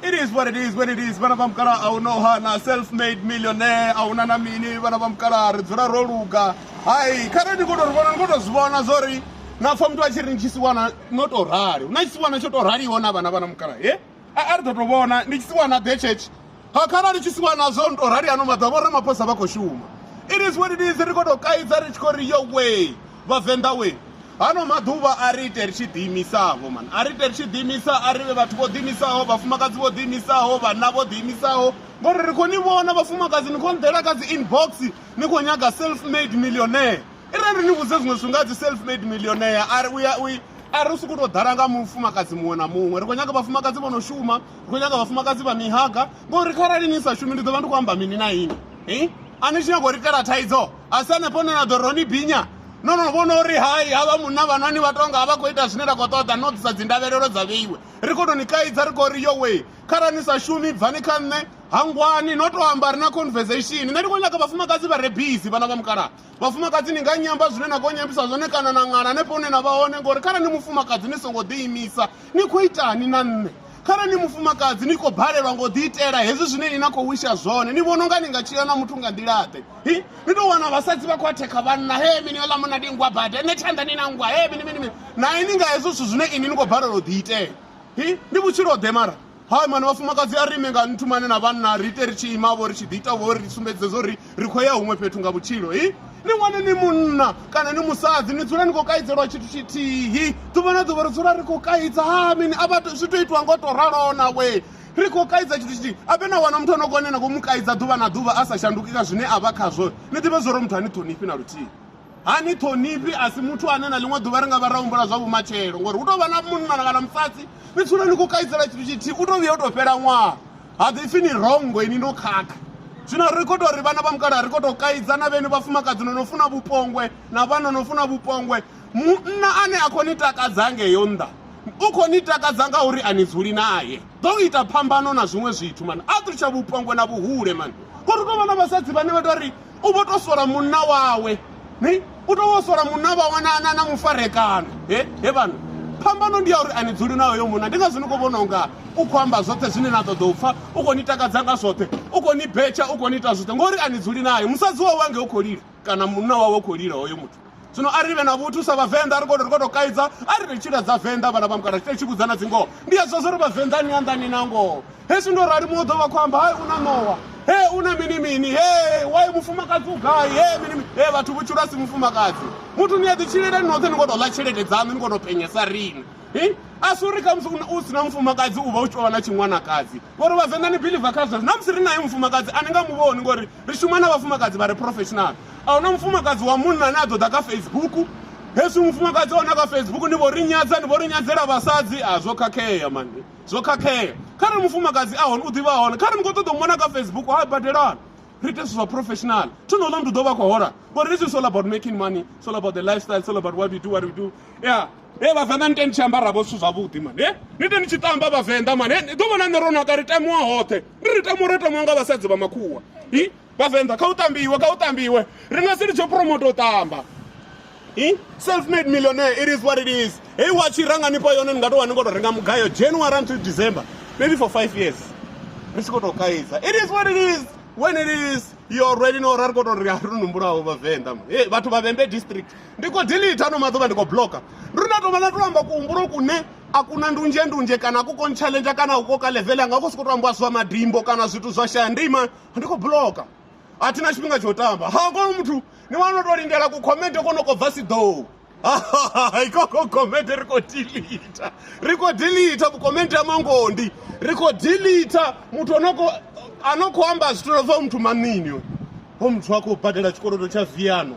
It is what it is what it is vana va mukala a wu no hana self made millionaire a wu na na mini vana va mukala ri dzula ro luga hayi kha re ni koto ri vona ni koto zwi vona zwo ri na pfa muthu a tshi ri ni tshisiwana no to rali hu na tshisiwana tsho to raliho na vhana vhana mukala he a ri ḓo to vhona ndi tshisiwana ḓe church ha kharali tshi si wa nazwo nto rali ano maḓuvha vho ramaphosa vha khou shuma it is what it is ri khou tou kaidza ri tshi khou ri yo way vhavenḓa we hano maḓuvha a ri ite ri tshi ḓiimisavho mani a ri ite ri tshi ḓiimisa a ri vhe vhathu vho ḓiimisaho vhafumakadzi vho ḓiimisaho vhanna vho ḓiimisaho ngori ri khou ni vhona vhafumakadzi ni khou nḓela kha dzi inbox ni khou nyaga self made millionaire i re ri ni vhudze zwiṅwe zwithu nga dzi self made millionaire a ri uya u a ri u sokou tou ḓala nga mufumakadzi muṅwe na muṅwe ri khou nyaga vhafumakadzi vho no shuma ndi khou nyaga vhafumakadzi vha mihaga ngori kharali ni sa shumi ndi ḓo vha ndi khou amba mini na ini i a ni tshi nyago ri kala thaidzo a si hanefho ne na ḓo ro ni binya no no vhona uri hai havha munna vhanwani vha tonga a vha khou ita zwine ra khou ṱoḓa no ḓisa dzindavhelelo dza vheiwe ri khou tou ni kaidza ri khou ri yo wee kharali ni sa shumi bvani kha nṋe hangwani no tou amba ri na conversation nṋe ndi khou nyaga vhafumakadzi vha re busy vhana vha mukalaha vhafumakadzi ni nga nyamba zwine na khou nyambisa zwone kana na ṅala hanefho hune na vha hone ngori kharali ni mufumakadzi ni songo ḓiimisa ni khou itani na nṋe kharali ni mufumakadzi ni khou balelwa ngo ḓi itela hezwi zwine ni na khou wisha zwone ni vhona unga ni nga tshila na muthu nga nḓilaḓe hi ni tou wana vhasadzi vha khou athekha vhanna he mini ola muna ndi ngwa bada ene tshanḓa ni na ngwa he mini mini mini nae ni nga hezwo zwithu zwine ini ni khou balelwa u ḓi itela hi ndi vhutshilo ḓe mara Hai mani vhafumakadzi a ri ime nga nthu mani na vhanna ri ite ri tshi ima vho ri tshi ḓi ita vho ri sumbedze zwo ri ri khou ya huṅwe fhethu nga vhutshilo hi ni wane ni munna kana ni musadzi ni dzula ni khou kaidzelwa tshithu tshithihi ḓuvha na ḓuvha ri dzula ri khou kaidza ha mini a vha zwi tou itiwa ngo tou raloo na we ri khou kaidza tshithu tshithihi ape na wana muthu ano kone na khou mu kaidza ḓuvha na ḓuvha a sa shanduki kha zwine a vha khazwo ni ḓivhe zwo ro muthu a ni ṱhonifhi na luthihi ha ni ṱhonifhi a si muthu ane na ḽiṅwe ḓuvha ri nga vha ra humbula zwa vhumatshelo ngori hu tou vha na munna kana musadzi ni tsula ni khou kaisela tshithu tshithihi u tou vhuya u tou fhela ṅwaha ha ḓi pfhi ni rongo ini no khakha zwino ri khou tou ri vhana vha mukala ri khou tou kaidza na vheni vhafumakadzi no no funa vhupongwe na vhana no funa vhupongwe munna ane a khou ni takadza ngeyo nnḓa u khou ni takadza nga uri a ni dzuli naye ḓo ita phambano na zwiṅwe zwithu mani a ṱutsha vhupongwe na vhuhule mani ngori u tou vha na vhasadzi vhane vha tou ri u vho to sola munna wawe ni u to vho sola munna vhawe na na na mufarekano he he vhana phambano ndi ya uri ani dzuli nayo yo munna ndi ngazwo ni khou vhona unga u khou amba zwoṱhe zwine na ṱoḓa u pfha u khou ni takadza nga zwoṱhe u khou ni betsha u khou ni ita zwoṱhe ngori ani dzuli nayo musadzi wawe ange u khou lila kana munna wawe u khou lila hoyo muthu zwino a ri vhe na vhuthu sa vhavenḓa ri khou ri khou tou kaidza a ri ri tshila dza venḓa vhana vha mukala tshi tshi vhudza na dzingoho ndi a zwa zwo ri vhavenḓa ni anḓani na ngoho hezwi ndo rali muṅwe ḓo vha khou amba hai u na ṋowa he u na mini mini he wai mufumakadzi u gai he mini mini he vhathu vhutshilo a si mufumakadzi muthu ni a ḓi tshilele ni noṱhe ni khou tou ḽa tshelede dzaṋu ni khou tou penyesa rini hi a si uri khamusi u si na mufumakadzi u vha u tshi tou vha na tshiṅwanakadzi ngori vhavenḓa ni biliva kha zwezwo na musi ri naye mufumakadzi a ni nga mu vhoni ngori ri shuma na vhafumakadzi vha re professional a huna mufumakadzi wa munna ane a ḓo ḓa kha facebook hezwi mufumakadzi ona kha facebook ni vho ri nyadza ni vho ri nyadzela vhasadzi a zwo khakhea mani zwo khakhea kha ri mufumakadzi a hone u ḓivha hone kha ri ni khou ṱoḓa u mona kha facebook ha badelana ri ite zwithu zwa professional thi no ḽa mndu ḓo vha khou hola ngori this is all about making money it's all about the lifestyle it's all about what we do what we do yeah Hey, vhavenḓa ni teni tshi ambara vho zwithu zwavhuḓi mani he ni teni tshi tamba vhavenḓa mani ni ḓo vhona nṋe ro naka ri tamiwa hoṱhe ndi ri tamiwa ri tamiwa nga vhasadzi vha makhuwa i vhavenḓa kha u tambiwe kha u tambiwe ri nga si litsho promoto u tamba i self made millionaire it is what it is heyi watshi ra nga nifha yone ni nga tou wa ni ngo tou renga mugayo january until december maybe for five years ri tshi khou tou kaidza it is what it is when it is yo already no ra ri khou tou ri a ri numbulaho vhavenḓa mani he vhathu vha vhembe district ndi khou delete ano maḓuvha ndi khou blocker ndi ri na tou vha na tou amba kuhumbulo kune a kuna ndunzhe ndunzhe kana ku kon challenge kana u koka level anga khou sokou tou ambiwa zwa madimbo kana zwithu zwa shaya ndima ndi khou blocker a thi na tshifhinga tsho tamba ha kono muthu ni wana tou lindela ku comment kono kho bva siḓou ikoko comment ri khou delete ri khou delete comment ya mangondi ri khou delete muthu onoko ano khou amba zwithu lobva muthu manini ho muthu a khou badela tshikolodo tsha viano